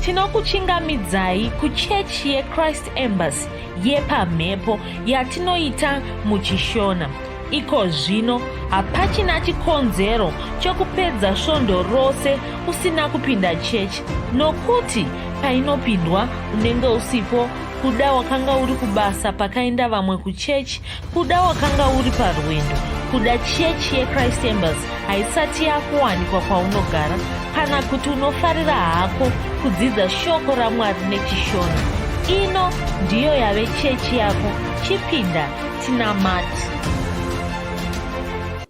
tinokuchingamidzai kuchechi yechrist embassy yepamhepo yatinoita muchishona iko zvino hapachina chikonzero chokupedza svondo rose usina kupinda chechi nokuti painopindwa unenge usipo kuda wakanga uri kubasa pakaenda vamwe kuchechi Kuda wakanga uri parwendo kuda chechi yechrist embers haisati yakuwanikwa kwaunogara kana kuti unofarira hako kudzidza shoko ramwari nechishona ino ndiyo yave chechi yako chipinda tinamati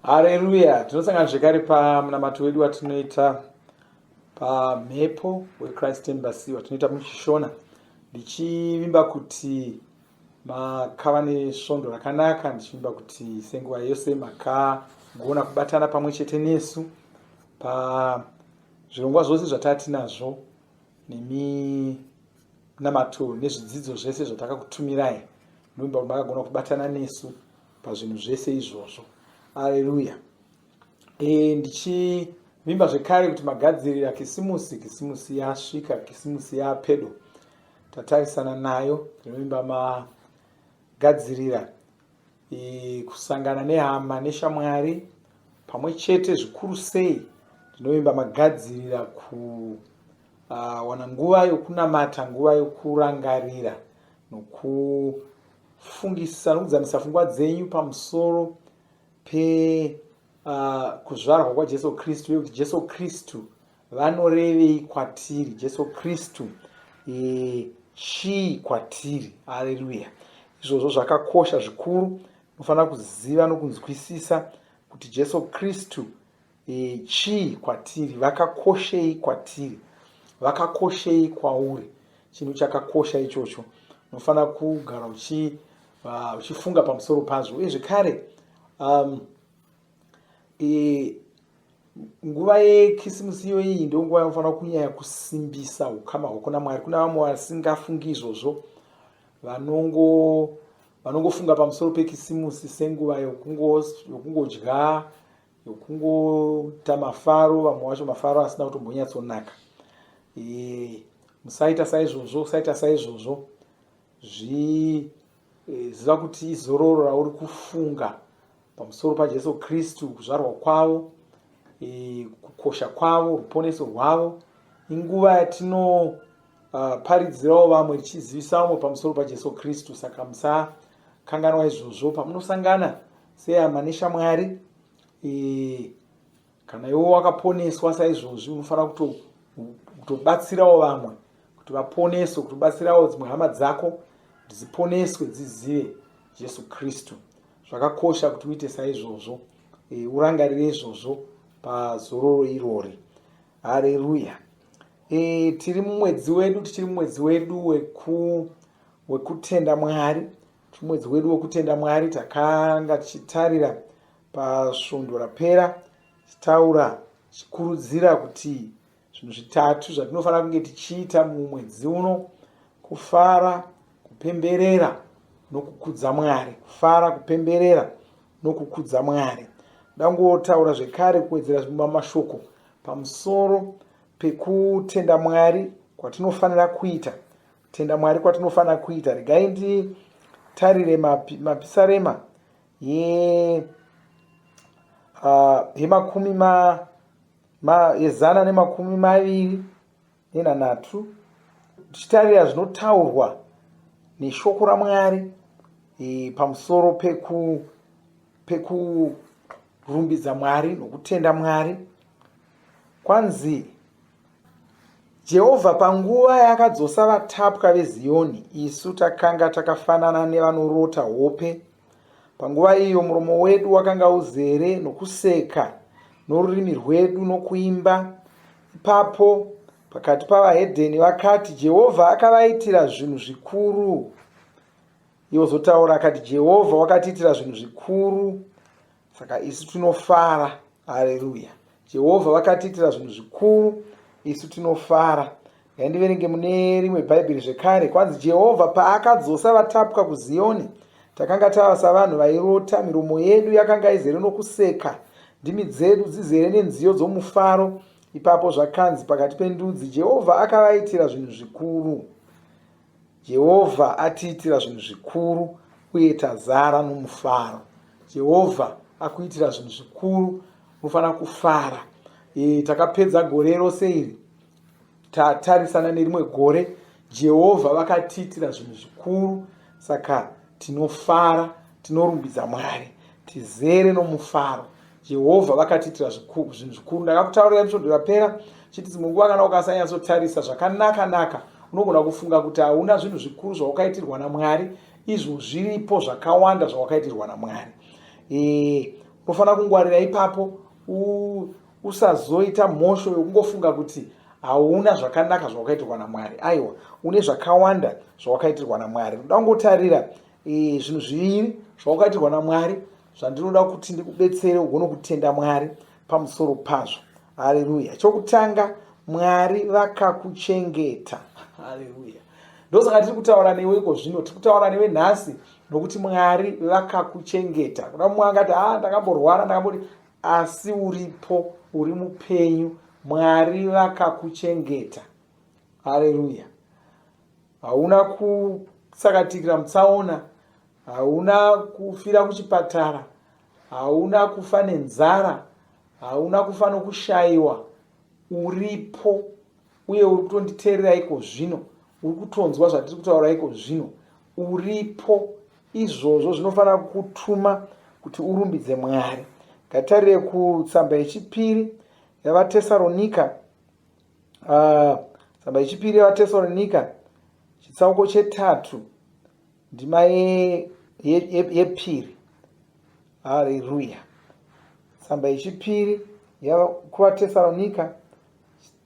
hareruya tinosangana zvekare pamunamato wedu watinoita pamhepo wechrist embers watinoita muchishona ndichivimba kuti makava nesvondo rakanaka ndichimba kuti senguva yose makagona kubatana pamwe chete nesu pazvirongwa zvose zvataatinazvo nemi namato nezvidzidzo zvese zvatakakutumirai ndoimba kuti makagona kubatana nesu pazvinhu zvese izvozvo aleluya e, ndichivimba zvekare kuti magadzirira kisimusi kisimusi yasvika kisimusi yapedo tatarisana nayo tinovimba magadzirira e, kusangana nehama neshamwari pamwe chete zvikuru sei ndinovimba magadzirira kuwana ah, uh, nguva yokunamata nguva yokurangarira nokufungisa nokudzamisa fungwa dzenyu pamusoro pekuzvarwa ah, uh, kwajesu kristu uye kuti jesu kristu vanorevei kwatiri jesu kristu e, chii kwatiri aleluya izvozvo zvakakosha zvikuru unofanira kuziva nokunzwisisa kuti jesu kristu e, chii kwatiri vakakoshei kwatiri vakakoshei kwauri chinhu chakakosha ichocho unofanira kugara uchi Ah, uchifunga pamusoro pazvo uye zvekare um, e, nguva yekisimusi iyo iyi ndo nguva yanofanira kunyaya kusimbisa ukama hwako namwari kuna vamwe vasingafungi izvozvo vanongofunga pamusoro pekisimusi senguva yokungodya yokungoita mafaro vamwe wacho mafaro asina kutombonyatsonaka e, musaita saizvozvo usaita saizvozvo zvi e, ziva kuti izororo rauri kufunga pamusoro pajesu kristu kuzvarwa kwavo e, kukosha kwavo ruponeso rwavo inguva yatino Ah, paridzirawo vamwe tichizivisa vamwe pamusoro pajesu kristu saka musakanganwa izvozvo pamunosangana sehama neshamwari e, kana iwe wakaponeswa saizvozvi unofanira kutobatsirawo kuto vamwe kuti vaponeswe kutobatsirawo dzimwe hama dzako dziponeswe dzizive jesu kristu zvakakosha kuti uite saizvozvo e, urangarire izvozvo pazororo irori hareruya e, tiri mumwedzi wedu tichiri mumwedzi wedu weku, wekutenda mwari Tumwedzi wedu wekutenda Mwari takanga tichitarira pasvondo rapera tichitaura tichikurudzira kuti zvinhu zvitatu zvatinofanira kunge tichiita mumwedzi uno kufara kupemberera nokukudza mwari kufara kupemberera nokukudza mwari ndangotaura zvekare kuwedzera zvimba mashoko pamusoro pekutenda mwari kwatinofanira kuita Tenda Mwari kwatinofanira kuita. Regai nditarire mapi, mapisarema ye uh, yemakumi ma, ma, yezana nemakumi maviri nenhanhatu tichitarira zvinotaurwa neshoko raMwari e, pamusoro peku pekurumbidza Mwari nokutenda Mwari kwanzi Jehovha panguva yaakadzosa vatapwa veZiyoni, isu takanga takafanana nevanorota hope. Panguva iyo muromo wedu wakanga uzere nokuseka, norurimi rwedu nokuimba. Ipapo pakati pavahedheni vakati, Jehovha akavaitira zvinhu zvikuru. Ivo zotaura akati, Jehovha wakatiitira zvinhu zvikuru. Saka isu tinofara. Hareruya. Jehovha vakatiitira zvinhu zvikuru, isu tinofara. Ngaindiverenge mune rimwe Bhaibheri zvekare. Kwanzi Jehovha paakadzosa vatapwa kuZiyoni, takanga tava savanhu vairota, miromo yedu yakanga izere nokuseka, ndimi dzedu dzizere nenziyo dzomufaro. Ipapo zvakanzi pakati pendudzi, Jehovha akavaitira zvinhu zvikuru. Jehovha atiitira zvinhu zvikuru uye tazara nomufaro. Jehovha akuitira zvinhu zvikuru, unofanira kufara. E, takapedza gore rose iri tatarisana nerimwe gore. Jehovha vakatiitira zvinhu zvikuru, saka tinofara, tinorumbidza Mwari, tizere nomufaro. Jehovha vakatiitira zvikuru, zvinhu zvikuru. Ndakakutaurira episode rapera chiti dzimwe nguva kana ukasanyatsotarisa zvakanaka-naka unogona kufunga kuti hauna zvinhu zvikuru zvawakaitirwa naMwari, izvo zviripo zvakawanda zvawakaitirwa naMwari. E, unofanira kungwarira ipapo u, usazoita mhosho yokungofunga kuti hauna zvakanaka zvawakaitirwa naMwari. Aiwa, une zvakawanda zvawakaitirwa naMwari. Ndoda kungotarira e, zvinhu zviviri zvawakaitirwa naMwari zvandinoda kuti ndikubetsere ugone kutenda mwari pamusoro pazvo haleluya chokutanga mwari vakakuchengeta haleluya ndosaka tiri kutaura newe iko zvino tiri kutaura newe nhasi nokuti mwari vakakuchengeta kuna mumwe angati a ah, ndakamborwara ndakamboti asi uripo uri mupenyu mwari vakakuchengeta haleluya hauna kusakatikira mutsaona hauna kufira kuchipatara hauna kufa nenzara hauna kufa nokushayiwa uripo uye uri kutonditeerera iko zvino uri kutonzwa zvatiri kutaura iko zvino uripo izvozvo zvinofanira kukutuma kuti urumbidze mwari ngatarire kutsamba yechipiri yavatesaronika ah, tsamba yechipiri yavatesaronika chitsauko chetatu Ndima yepiri. Haleluya. Tsamba yechipiri kuvatesaronika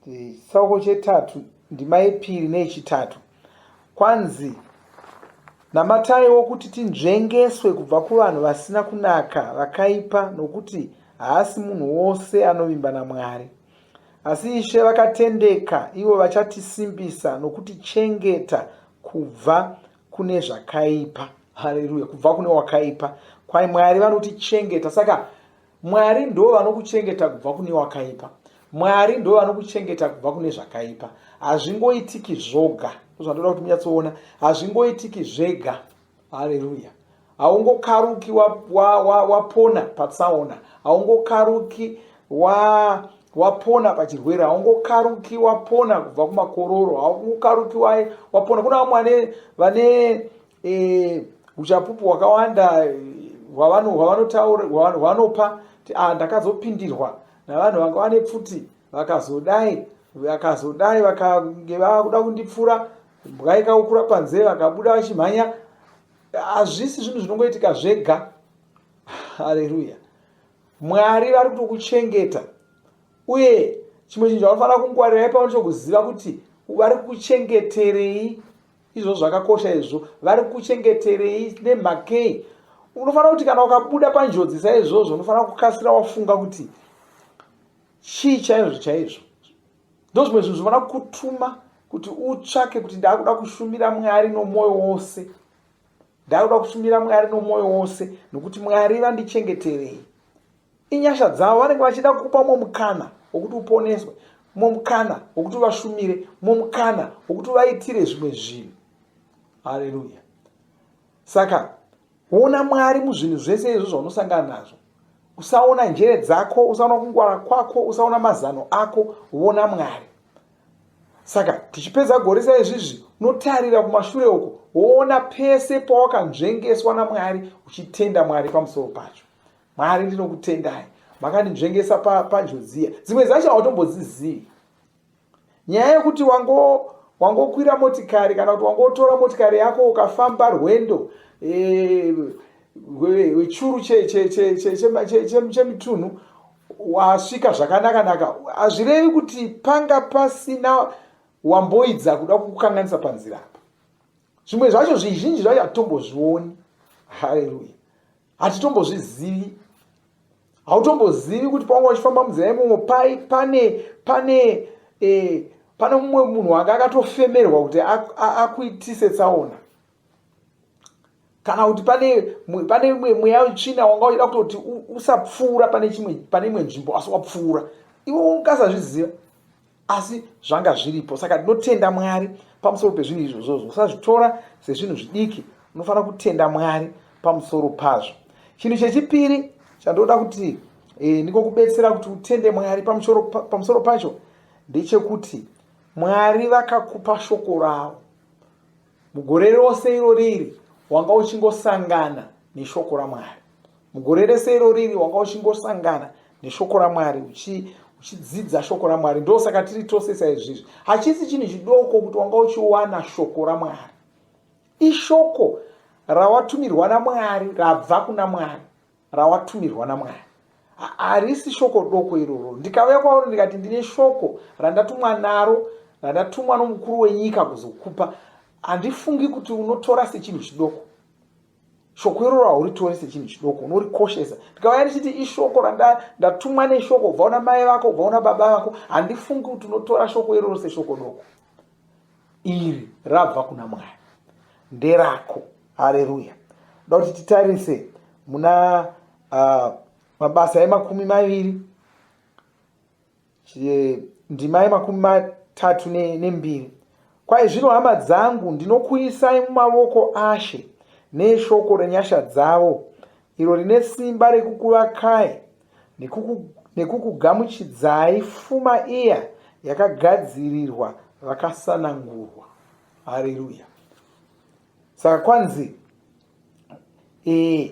chitsauko chetatu ndima yepiri neyechitatu kwanzi namataiwo kuti tinzvengeswe kubva kuvanhu vasina kunaka vakaipa nokuti haasi munhu wose anovimba namwari Asi Ishe vakatendeka ivo vachatisimbisa nokutichengeta kubva kune zvakaipa. Haleluya, kubva kune wakaipa. Kwai Mwari vanotichengeta. Saka Mwari ndo vanokuchengeta kubva kune wakaipa. Mwari ndo vanokuchengeta kubva kune zvakaipa. Hazvingoitiki zvoga. Zvandinoda kuti munyatsoona. Hazvingoitiki zvega. haleluya haungokaruki wapona wa, wa, wa patsaona haungokaruki wa wapona pachirwere haungokaruki wapona kubva kumakororo haungokaruki wapona kuna vamwe vane vane e, uchapupu hwakawanda hwavanopa ah, ndakazopindirwa navanhu vanga vane pfuti vakazodai vakazodai vakange vakuda kundipfura Imbwa ikaukura panze vakabuda vachimhanya hazvisi zvinhu zvinongoitika zvega haleluya mwari vari kutokuchengeta uye chimwe chinhu chaunofanira kungwarirai pamwe chokuziva kuti vari kuchengeterei izvo zvakakosha izvo vari kuchengeterei nemhakei unofanira kuti kana ukabuda panjodzi saizvozvo unofanira kukasira wafunga kuti chii chaizvo chaizvo ndozvimwe zvinhu zvinoda kutuma kuti utsvake kuti ndakuda kushumira mwari nomwoyo wose ndakuda kushumira mwari nomwoyo wose nokuti mwari vandichengeterei inyasha dzavo vanenge vachida kukupa umwe mukana wokuti uponeswe umwe mukana wokuti uvashumire umwe mukana wokuti uvaitire zvimwe zvinhu hareruya saka ona mwari muzvinhu zvese izvo zvaunosangana nazvo usaona njere dzako usaona kungwara kwako usaona mazano ako vona mwari saka tichipedza gore sa izvizvi unotarira kumashure uko woona pese pawakanzvengeswa namwari uchitenda mwari pamusoro pacho mwari ndinokutendai makandinzvengesa panjodziya dzimwe dzacho hautombodzizivi nyaya yekuti wango wangokwira motikari kana kuti wangotora motikari yako ukafamba rwendo eh, wechuru chemitunhu wasvika zvakanaka naka hazvirevi kuti panga pasina wamboidza kuda kukukanganisa panzira apa zvimwe zvacho zvizhinji zvacho hatombozvioni haleluya hatitombozvizivi hautombozivi kuti pawanga wachifamba munzira yemomo pai pane pane eh, pane mumwe munhu wanga akatofemerwa kuti akuitise tsaona kana kuti pane pane imwe mweya wetsvina wanga uchida kutoti usapfuura pane chimwe pane imwe nzvimbo asi wapfuura iwe ungasazviziva asi zvanga zviripo saka ndinotenda mwari pamusoro pezvinhu izvozvozvo usazvitora sezvinhu zvidiki unofanira kutenda mwari pamusoro pazvo chinhu chechipiri chandoda kuti e, eh, ndikokubetsera kuti utende mwari pamusoro, pa, pamusoro pacho ndechekuti mwari vakakupa shoko ravo mugore rose iro riri wanga uchingosangana neshoko ramwari mugore rese iro riri wanga uchingosangana neshoko ramwari uchi uchidzidza shoko ramwari ndosaka tiri tose saizvizvi hachisi chinhu chidoko kuti wanga uchiwana shoko ramwari ishoko rawatumirwa namwari rabva kuna mwari rawatumirwa namwari harisi shoko doko iroro ndikauya kwauri ndikati ndine shoko randatumwa naro randatumwa nomukuru wenyika kuzokupa handifungi kuti unotora sechinhu chidoko shoko iroro hauritore sechinhu chidoko unorikoshesa ndikauya ndichiti ishoko randatumwa neshoko ubva una mai vako ubva una baba vako handifungi kuti unotora shoko iroro seshoko doko iri rabva kuna mwari nderako hareruya ndoda kuti titarise muna uh, mabasa emakumi maviri ndima yemakumi matatu nembiri ne kwai zvino hama dzangu ndinokuisai mumavoko ashe neshoko renyasha dzavo iro rine simba rekukuvakai nekukugamuchidzai fuma iya yakagadzirirwa vakasanangurwa hareruya saka kwanzi e,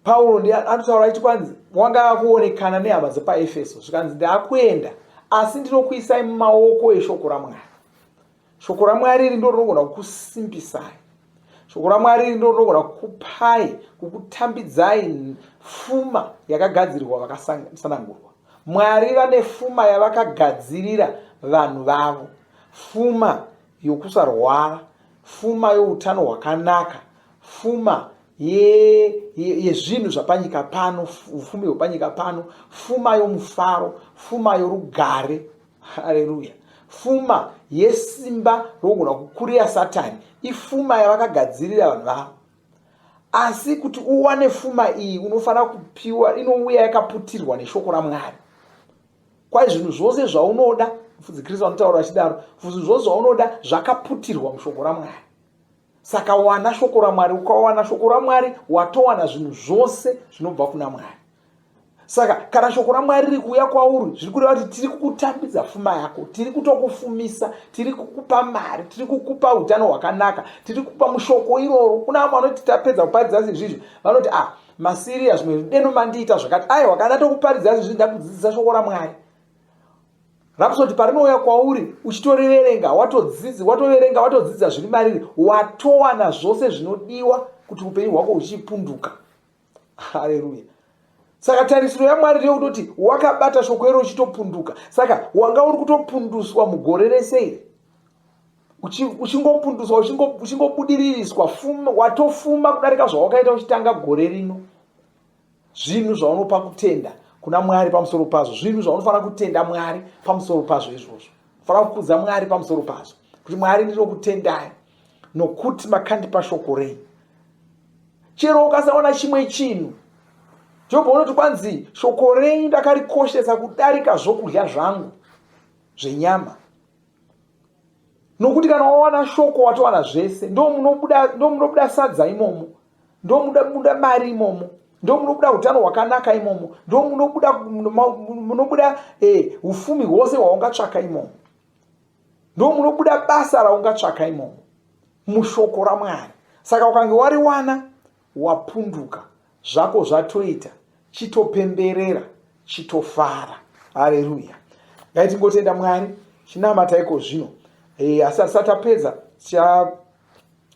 pauro ndi anotaura ichi kwanzi wanga akuonekana nehama dzepaefeso zvikanzi ndaakuenda asi ndinokuisai mumaoko eshoko ramwari shoko ramwari iri ndo rinogona kukusimbisai shoko ramwari iri ndo rinogona kukupai kukutambidzai fuma yakagadzirirwa vakasanangurwa mwari vane fuma yavakagadzirira vanhu vavo fuma yokusarwara, fuma youtano hwakanaka, fuma yezvinhu zvapanyika pano ufumi hwepanyika pano fuma yomufaro fuma yorugare hareruya fuma yesimba rokugona kukurira satani ifuma yavakagadzirira vanhu vavo asi kuti uwane fuma iyi unofanira kupiwa inouya yakaputirwa neshoko ramwari kwai zvinhu zvose zvaunoda mufudzi kristu anotaura achidaro zvinhu zvose zvaunoda zvakaputirwa mushoko ramwari saka wana shoko ramwari ukawana shoko ramwari watowana zvinhu zvose zvinobva kuna mwari saka kana shoko ramwari riri kuuya kwauri zviri kureva kuti tiri kukutambidza fuma yako tiri kutokufumisa tiri kukupa mari tiri kukupa utano hwakanaka tiri kukupa mushoko iroro kuna vamwe vanoti tapedza kuparidza sezvizvi vanoti ah masiriya zvimwe deno mandiita zvakati aiwa kana tokuparidza zvinhu zvindakudzidzisa shoko ramwari rapsoti parinouya kwauri uchitoreverenga watodzidzi watoverenga watodzidza zviri mariri watowana zvose zvinodiwa kuti upenyu hwako huchipunduka hareruya saka tarisiro yamwari ndeyekutoti wakabata shoko iro uchitopunduka saka wanga uri kutopunduswa mugore rese iri uchingopunduswa uchingobudiririswa fuma watofuma kudarika zvawakaita uchitanga gore rino zvinhu zvaunopa kutenda kuna mwari pamusoro pazvo zvinhu zvaunofanira kutenda mwari pamusoro pazvo izvozvo unofanira kukudza mwari pamusoro pazvo kuti mwari ndinokutendai nokuti makandipa shoko rei chero ukasaona chimwe chinhu jobho unoti kwanzi shoko rei ndakarikoshesa kudarika zvokudya zvangu zvenyama nokuti kana wawana shoko watowana zvese ndomunobuda sadza imomo ndomunobuda mari imomo ndomunobuda utano hwakanaka imomo ndomunobuda eh, ufumi hwose hwaungatsvaka imomo ndomunobuda basa raungatsvaka imomo mushoko ramwari saka ukange wariwana wapunduka zvako zvatoita chitopemberera chitofara hareruya ngaitingotenda mwari chinamata iko zvino e, asi asati apedza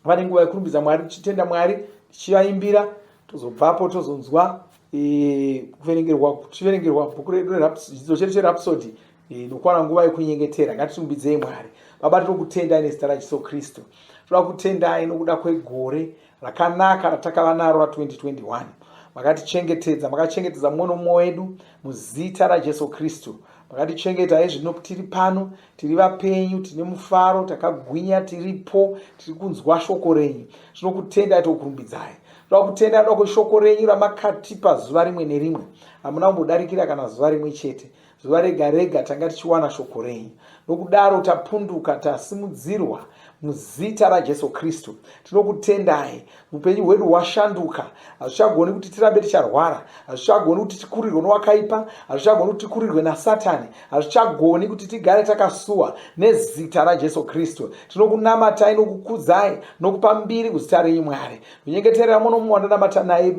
vane nguva yekurumbidza mwari tichitenda mwari tichivaimbira tozobvapo tozonzwa e, kuverengerwa tichiverengerwa bhuku redu redzidzo chedu cherapsody Eh, nokwana nguva yekunyengetera ngatitumbidzei mwari baba tinokutendai nezita rajesu kristu toda kutendai nokuda kwegore rakanaka ratakava naro ra2021 makatichengetedza makachengetedza mumwe nomumwe wedu muzita rajesu kristu makatichengeta hezvino tiri pano tiri vapenyu tine mufaro takagwinya tiripo tiri kunzwa shoko renyu tinokutendai tokurumbidzai toda kutenda toda kweshoko renyu ramakatipa zuva rimwe nerimwe hamuna kumbodarikira kana zuva rimwe chete zuva rega rega tanga tichiwana shoko renyu nokudaro tapunduka tasimudzirwa muzita rajesu kristu tinokutendai upenyu hwedu hwashanduka hazvichagoni kuti tirambe ticharwara hazvichagoni kuti tikurirwe nowakaipa hazvichagoni kuti tikurirwe nasatani hazvichagoni kuti tigare takasuwa nezita rajesu kristu tinokunamatai nokukudzai nokupa mbiri kuzita renyu mwari kunyengeterera muno mumwe wandanamata naye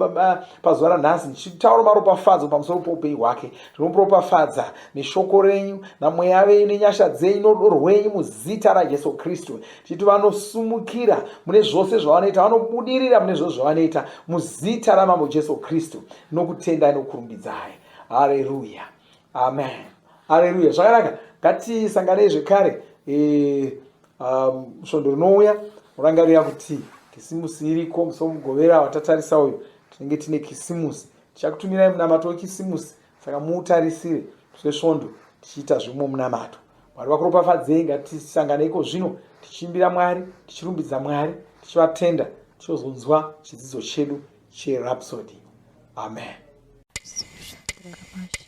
pazuva ranhasi ndichitaura maropafadzo pamusoro poupenyu hwake Tinomuropafadza neshoko renyu namweya venyu nenyasha dzenyu norudo rwenyu muzita raJesu Kristu tichiti vanosumukira mune zvose zvavanoita vanobudirira mune zvose zvavanoita muzita raMambo Jesu Kristu nokutendai nokurumbidzai hareruya amen hareruya zvakanaka ngatisanganei zvekare e, um, svondo rinouya urangarira kuti kisimusi iriko musi womugovera watatarisa uyu tinenge tine kisimusi Tichakutumirai munamato weKisimusi, saka muutarisire seSvondo tichiita zvimwe munamato. Mwari vakuropafadzei, ngatisangane iko zvino tichiimbira Mwari, tichirumbidza Mwari, tichivatenda, tichozonzwa chidzidzo chedu cheRhapsody. Amen.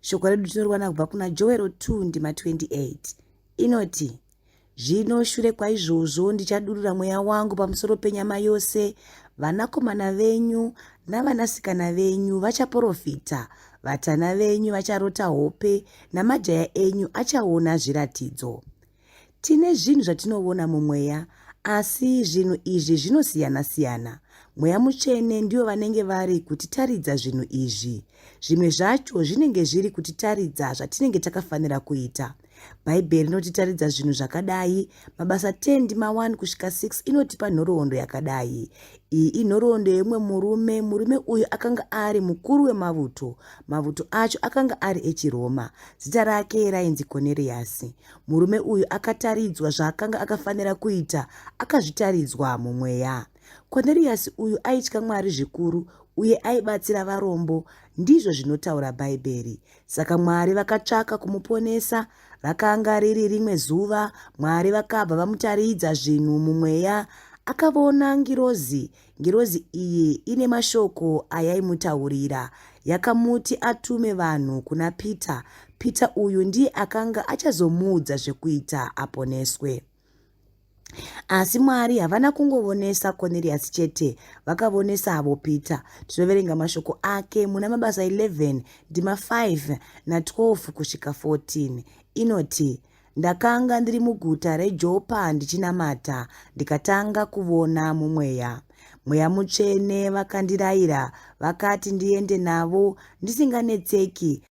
Shoko redu tinoriwana kubva kuna Joero 2 ndima 28 inoti zvino shure kwaizvozvo ndichadurura mweya wangu pamusoro penyama yose vanakomana venyu navanasikana venyu vachaprofita vatana venyu vacharota hope namajaya enyu achaona zviratidzo Tine zvinhu zvatinovona mumweya, asi zvinhu izvi zvinosiyana-siyana. Mweya mutsvene ndiyo vanenge vari kutitaridza zvinhu izvi. Zvimwe zvacho zvinenge zviri kutitaridza zvatinenge takafanira kuita. Bhaibheri rinotitaridza zvinhu zvakadai, mabasa 10 ndima 1 kusvika 6 inotipa nhoroondo yakadai. Iyi inhoroondo yeumwe murume, murume uyu akanga ari mukuru wemavuto. Mavuto acho akanga ari echiRoma. Zita rake rainzi Koneriyasi. Murume uyu akataridzwa zvaakanga akafanira kuita, akazvitaridzwa mumweya. Koneriyasi uyu aitya Mwari zvikuru uye aibatsira varombo, ndizvo zvinotaura Bhaibheri. Saka Mwari vakatsvaka kumuponesa. Rakanga riri rimwe zuva, Mwari vakabva vamutaridza zvinhu mumweya. Akavona ngirozi Ngirozi iyi ine mashoko ayaimutaurira. Yakamuti atume vanhu kuna Peter. Peter uyu ndiye akanga achazomuudza zvekuita aponeswe. Asi Mwari havana kungovonesa Cornelius chete, vakavonesa avo Peter. Tinoverenga mashoko ake muna Mabasa 11 ndima 5 na 12 kusvika 14. Inoti, Ndakanga ndiri muguta reJopa ndichinamata, ndikatanga kuvona mumweya. Mweya mutsvene vakandiraira, vakati ndiende navo ndisinganetseki,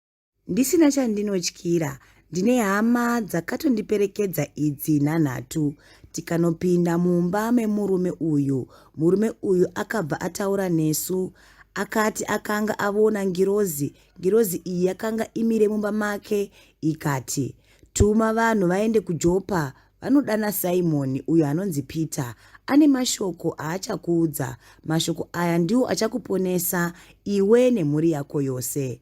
ndisina chandinotyira. Ndine hama dzakatondiperekedza idzi nhanhatu tikanopinda mumba memurume uyu. Murume uyu akabva ataura nesu, akati akanga avona ngirozi Ngirozi iyi yakanga imire mumba make ikati, Tuma vanhu vaende kuJopa vanodana Simoni uyo anonzi Peter. Ane mashoko aachakuudza. Mashoko aya ndiwo achakuponesa iwe nemhuri yako yose.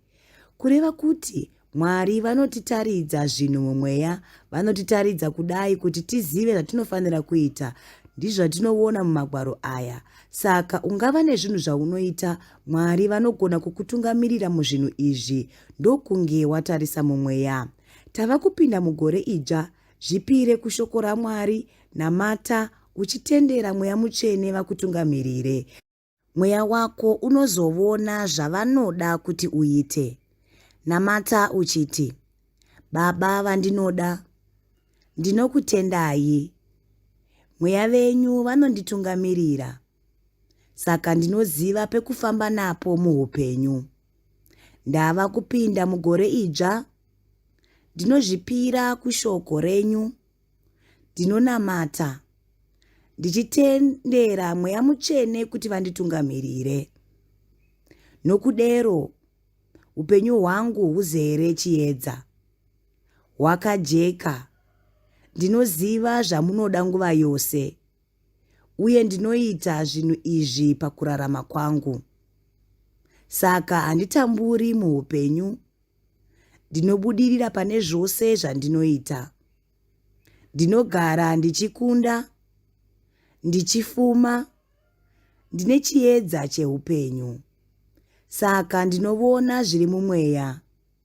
Kureva kuti Mwari vanotitaridza zvinhu mumweya, vanotitaridza kudai kuti tizive zvatinofanira kuita. Ndizvo zvatinoona mumagwaro aya. Saka ungava nezvinhu zvaunoita Mwari vanogona kukutungamirira muzvinhu izvi ndokunge watarisa mumweya. Tava kupinda mugore idzva, zvipire kushoko raMwari, namata, uchitendera Mweya Mutsvene vakutungamirire. Mweya wako unozovona zvavanoda kuti uite. Namata uchiti, Baba vandinoda, ndinokutendai. Mweya venyu vanonditungamirira. saka ndinoziva pekufamba napo muupenyu. Ndava kupinda mugore idzva, ndinozvipira kushoko renyu, ndinonamata ndichitendera mweya mutsvene kuti vanditungamirire. Nokudero, upenyu hwangu huzere chiedza, hwakajeka, ndinoziva zvamunoda nguva yose. uye ndinoita zvinhu izvi pakurarama kwangu. Saka handitamburi muupenyu. Ndinobudirira pane zvose zvandinoita. Ndinogara ndichikunda, ndichifuma, ndine chiedza cheupenyu. Saka ndinovona zviri mumweya.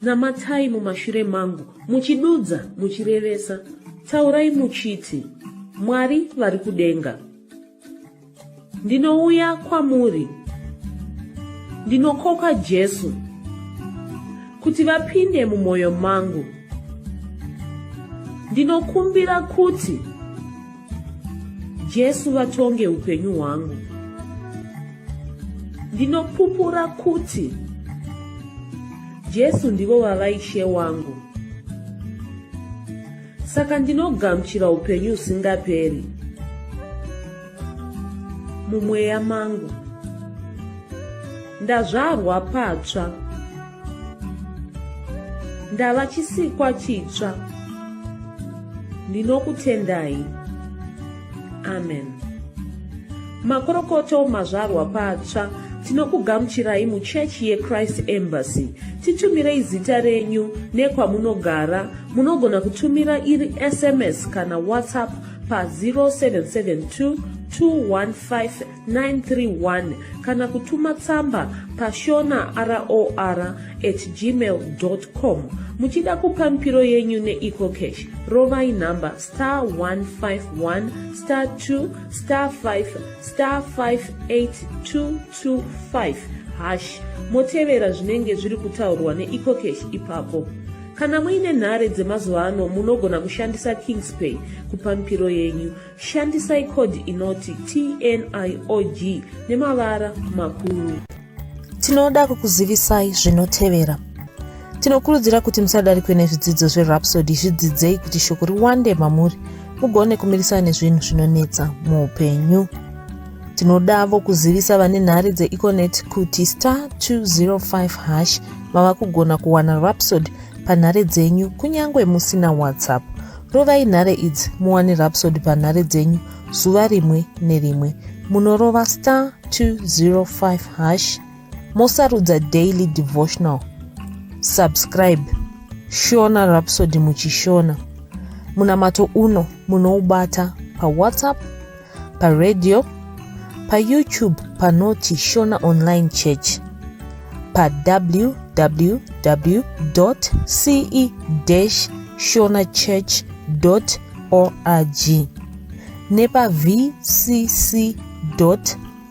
Namatai mumashure mangu, muchidudza, muchirevesa. Taurai muchiti, Mwari vari kudenga. Ndinouya kwamuri. Ndinokoka Jesu kuti vapinde mumwoyo mangu. Ndinokumbira kuti Jesu vatonge upenyu hwangu. Ndinopupura kuti Jesu ndivo vava ishe wangu. Saka ndinogamuchira upenyu usingaperi mumweya mangu. Ndazvarwa patsva. ndava chisikwa chitsva ndinokutendai amen makorokoto mazvarwa patsva tinokugamuchirai muchechi yechrist embassy titumirei zita renyu nekwamunogara munogona kutumira iri sms kana whatsapp pa 0772 215 931 kana kutuma tsamba pashona ror at gmail com muchida kupa mipiro yenyu neecocash rovai nhamba star 151 star 2 star 5 star 58225 hash motevera zvinenge zviri kutaurwa neecocash ipapo kana muine nhare dzemazuva ano munogona kushandisa kingspay kupa mipiro yenyu Shandisai code inoti TNIOG nemavara makuru. Tinoda kukuzivisai zvinotevera. Tinokurudzira kuti musadarikwe nezvidzidzo zverhapsody zvidzidzei kuti shoko riwande mamuri mugone kumirisana nezvinhu zvinonetsa muupenyu tinodavo kuzivisa vane nhare dzeeconet kuti star 205 hash mava kugona kuwana rapsod panhare dzenyu kunyange musina whatsapp rovai nhare idzi muwane rapsod panhare dzenyu zuva rimwe nerimwe munorova star 205 hash mosarudza daily devotional subscribe shona rapsod muchishona munamato uno munoubata pawhatsapp paradio payoutube panoti shona online church pawww ce shona church org nepavcc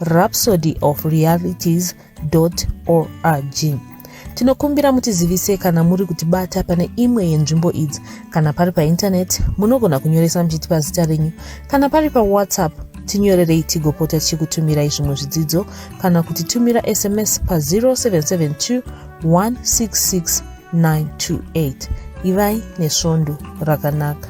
rhapsody of realities org tinokumbira mutizivise kana muri kutibata pane imwe yenzvimbo idzi kana pari paintaneti munogona kunyoresa muchitipa zita renyu kana pari pawhatsapp tinyorerei tigopota tichikutumirai zvimwe zvidzidzo kana kuti tumira sms pa 0772 166 928 ivai nesvondo rakanaka